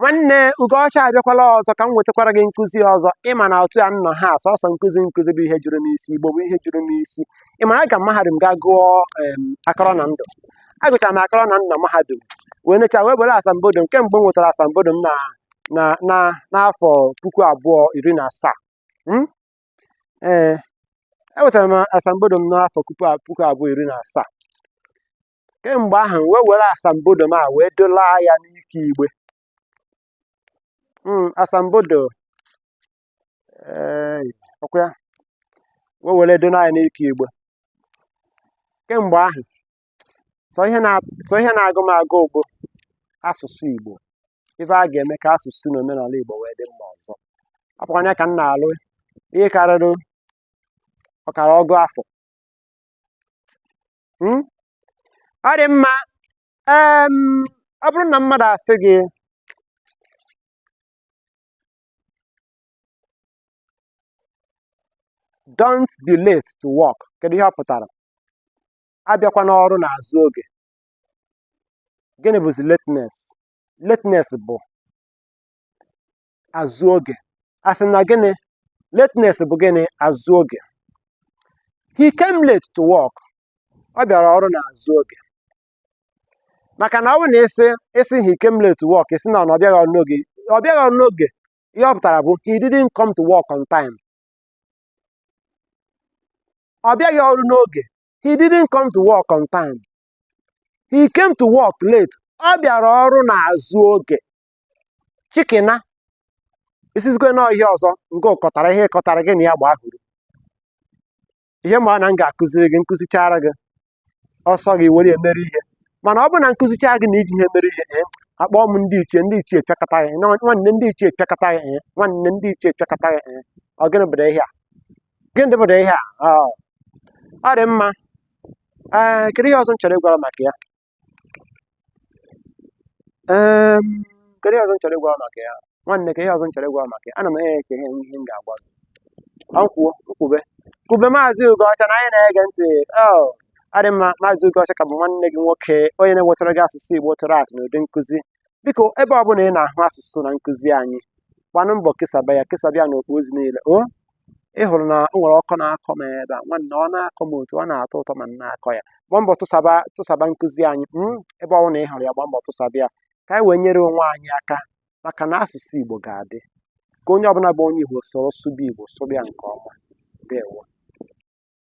nwanne ugoọcha abịakwala ọzọ ka m wetakwara gị nkụzi ọzọ ịma na otu a m nọ ha sọsọ nkụzi nkụzi bụ ihe juru m isi igbo bụ ihe juru m isi ịma na aga m mahadum ga gụọ em, akọrọ na ndụ agụchara m akọrọ na ndụ na mahadum wee necha wee were asambodo m kemgbe m nwetara asambodo m na na na n'afọ puku abụọ iri na asaa Mm? ee enwetara m asambodo m n'afọ puku a- puku abụọ iri na asaa kemgbe ahụ wee were asambodo m a wee dolaa ya n'ike igbe hmm, asambodo eh, ọkwa ya wee were dolaa ya n'ike igbe kemgbe ahụ sọ ihe na-agụ m agụ bụ asụsụ Igbo ife a ga-eme ka asụsụ na omenala Igbo wee dị mma ọzọ ọ bụkwanụ ya ka m na-alụ ihe karịrị ọkara ọgụ afọ hmm? ọ dị mma ọ bụrụ na mmadụ asị gị don't be late to work kedu ihe ọ pụtara abịakwana ọrụ n'azụ oge gịnị bụzi lateness lateness bụ azụ oge asị na gịnị lateness bụ gịnị azụ oge he came late to work ọ bịara ọrụ na azụ oge maka na ọ bụ na ị sị ị sị he came late to work ị sị na ọ bịaghị ọrụ n'oge ọ bịaghị ọrụ n'oge ihe ọ pụtara bụ he didn't come to work on time ọ bịaghị ọrụ n'oge he didn't come to work on time he came to work late ọ bịara ọrụ n'azụ oge chikena ị sịzikwa na ọ ihe ọzọ nke ị kọtara ihe ị kọtara gị na ya gba ahụrụ ihe m ma ọ na m ga-akụziri gị m kụzichara gị ọ sọ gị were ya mere ihe mana ọ bụrụ na m kụzichara gị na i jighị ya mere ihe ee akpọọ m ndị ichie ndị ichie pịakọta ya na nwanne ndị ichie pịakọta ya ee nwanne ndị ichie pịakọta ya ee ọ gịnị bụrụ ihe a gịnị dịbụrụ ihe a ọ dị mma ee kedu ihe ọzọ m chọrọ ịgwara maka ya kedu ihe ọzọ m chọrọ ịgwa maka ya nwanne kee ihe ọzọ m chọrọ ịgwa maka ya ana m enye eche ihe ihe m ga-agwa gị ọkwa m kwube kwube maazị ugoọcha na anyị na-ege ntị oh, ọ dị mma maazị ugoọcha ka bụ nwanne gị nwoke onye na-ewetara gị asụsụ igbo tụrụ atụ n'ụdị nkụzi biko ebe ọ bụla ị na-ahụ asụsụ na nkụzi anyị gbanụ mbọ kesaba ya kesaba ya n'okpu ozi niile o oh, ị hụrụ na o nwere ọkọ na-akọ m ebe a nwanne ọ na-akọ m otu ọ na-atọ ụtọ ma m na-akọ ya gbaa mbọ tụsaba tụsaba nkụzi anyị mm, ebe ọ bụla ị hụrụ ya gbaa mbọ tụsaba ya ka anyị wee nyere onwe anyị aka maka na asụsụ Igbo ga-adị ka onye ọbụla bụ onye Igbo soro sụba Igbo sụba ya nke ọma ndewo